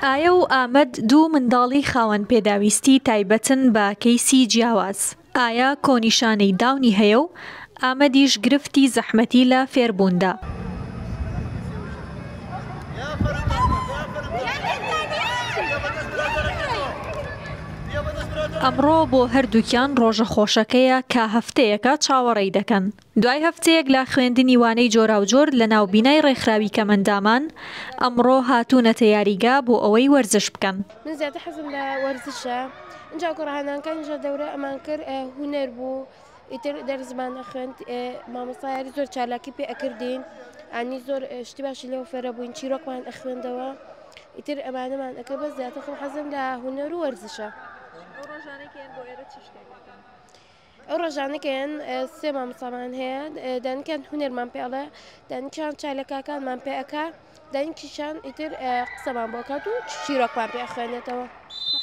ئایا و ئامەد دوو منداڵی خاوەن پێداویستی تایبەتن بە کەیسی جیاواز، ئایا کۆ نیشانەی داونی هەیە و ئامەدیش گرفتی زەحمەتی لە فێربووندا. ئەمڕۆ بۆ هەردووکیان ڕۆژە خۆشەکەیە کە هەفتەیەکە چاوەڕێی دەکەن. دوای هەفتەیەک لە خوێندنی وانەی جۆراوجۆر لە ناو بینای ڕێکخراوی کەمەندامان، ئەمڕۆ هاتوونەتە یاریگا بۆ ئەوەی وەرزش بکەن. من زیاتر حەزم لە وەرزشە ئینجا کۆڕە هەنانکانی ژێر دەورە ئەمان کرد هونەر بوو ئیتر دەرسمان ئەخوێند مامۆستا یاری زۆر چالاکی پێ ئەکردین ئانی زۆر شتی باشی لێو فێرە بووین چیرۆکمان ئەخوێندەوە ئیتر ئەمانەمان ئەەکە بە زیاتر خۆ حەزم لە هونەر و وەرزشە. ئەو ڕۆژانە کە یان سێ مامۆستامان هەیە دەنکیان هونەرمان پێ ئەڵێ دەنکیان چای لە کاکانمان پێ ئەکا دەنکیشان ئیتر قسەمان بۆ کات و چیرۆکمان پێ خوێنێتەوە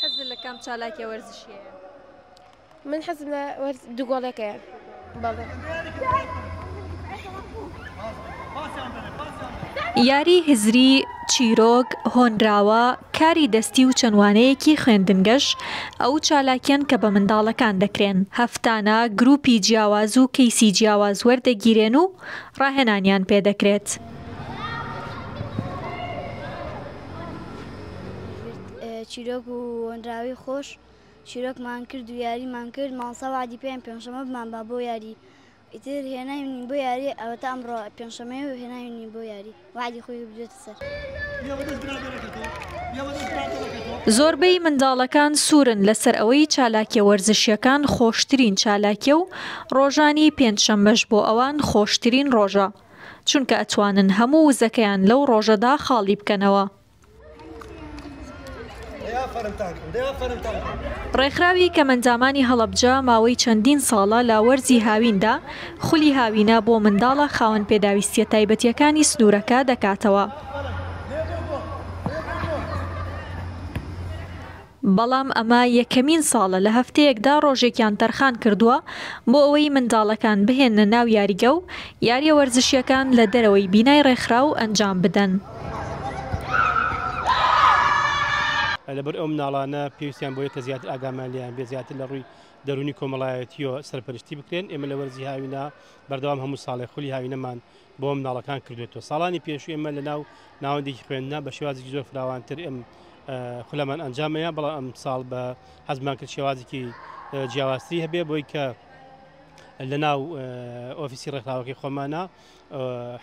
حەز لە کام چالاکیە وەرزشیە من حەزم لە دوگۆڵەکەیە بەڵێ یاری هزری، چیرۆک، هۆنراوە، کاری دەستی و چەند وانەیەکی خوێندنگەش ئەو چالاکیەن کە بە منداڵەکان دەکرێن، هەفتانە گروپی جیاواز و کەیسی جیاواز وەردەگیرێن و ڕاهێنانیان پێ دەکرێت. چیرۆک و هۆنراوەی خۆش، چیرۆکمان کرد و یاریمان کرد، مامۆستا وەعدی پێیان پێنجشەممە بمانبا بۆ یاری. ئیتر هێناوینین بۆ یاری ئەوەتا ئەمڕۆ پێنجشەمەیە و هێناوینین بۆ یاری وەعدی خۆی بدوێتە سەر. زۆربەی منداڵەکان سوورن لەسەر ئەوەی چالاکیە وەرزشیەکان خۆشترین چالاکیە و ڕۆژانی پێنج شەممەش بۆ ئەوان خۆشترین ڕۆژە چونکە ئەتوانن هەموو وزەکەیان لەو ڕۆژەدا خاڵی بکەنەوە. ڕێکخراوی کەمئەندامانی هەڵەبجە ماوەی چەندین ساڵە لە وەرزی هاویندا خولی هاوینە بۆ منداڵە خاوەن پێداویستییە تایبەتییەکانی سنوورەکە دەکاتەوە. بەڵام ئەمە یەکەمین ساڵە لە هەفتەیەکدا ڕۆژێکیان تەرخان کردووە بۆ ئەوەی منداڵەکان بهێننە ناو یاریگە و یارییە وەرزشییەکان لە دەرەوەی بینای ڕێکخراو ئەنجام بدەن. لەبەر ئەو مناڵانە پێویستیان بەوەیە کە زیاتر ئاگامان لێیان بێت، زیاتر لە ڕووی دەروونی کۆمەڵایەتییەوە سەرپەرشتی بکرێن. ئێمە لە وەرزی هاوینا بەردەوام هەموو ساڵێک خولی هاوینەمان بۆ منداڵەکان کردوێتەوە ساڵانی پێشوی ئمە لە ناو ناوەندێکی خوێندنا بە شێوازی زۆر فراوانتر ئم خولەمان ئەنجامەیە بەڵام ئەم ساڵ بە حەزمان کرد شێوازێکی جیاوازتری هەبێ بۆی کە لە ناو ئۆفیسی ڕێکخراوەکەی خۆمانە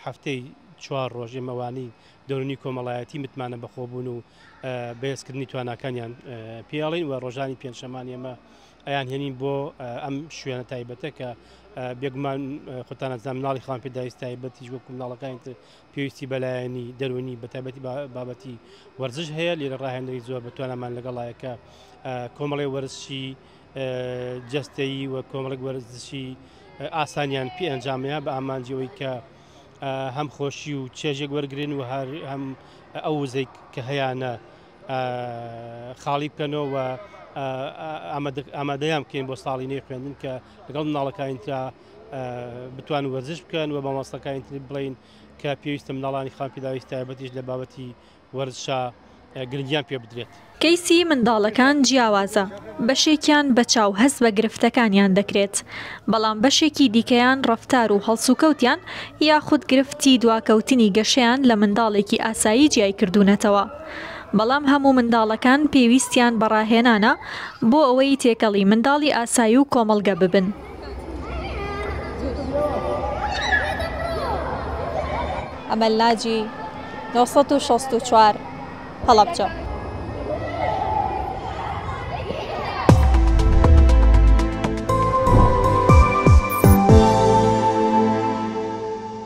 هەفتەی چوار ڕۆژێ مەوانی دەرونی کۆمەڵایەتی متمانە بەخۆبوون و بەێزکردنی تواناکانیان پێڵین و ڕۆژانی پێنجشەمان ئێمە ئەیانهێنین بۆ ئەم شوێنە تایبەتە کە بێگومان خۆتان ئەزان مناڵی خان پێداویست تایبەتیش وەکو مناڵەکانی تر پێویستی بەلایەنی دەرونی بە تایبەتی بابەتی وەرزش هەیە لێرە ڕاهێنەری زۆر بە توانامان لەگەڵایەکە کۆمەڵی وەرزشی جستەیی و کۆمەڵک وەرزشی ئاسانیان پێ ئەنجامەیە بە ئامانجەوەی کە هەم خۆشی و چێژێک وەرگن و هەر هەم ئەو وزەی کە هەیەە خاڵی بکەنەوە و ئامادەیان بکەین بۆ ساڵی نوێی خوێندن کە لەگەڵ مناڵەکانی ترا بتوان وەرزش بکەن و مامۆستەکانی تر بڵین کە پێویستە مناڵانی خان پیداویست تایبەتیش لە بابەتی وەرزشا گرنگیان پێ بدرێت. کەیسی منداڵەکان جیاوازە، بەشێکیان بە چاو هەست بە گرفتەکانیان دەکرێت، بەڵام بەشێکی دیکەیان ڕەفتار و هەڵسوکەوتیان یاخود گرفتی دواکەوتنی گەشەیان لە منداڵێکی ئاسایی جیای کردوونەتەوە. بەڵام هەموو منداڵەکان پێویستیان بە ڕاهێنانە بۆ ئەوەی تێکەڵی منداڵی ئاسایی و کۆمەڵگە ببن. ئەمەل ناجی، نۆ سەد و شەست و چوار، هەڵەبجە.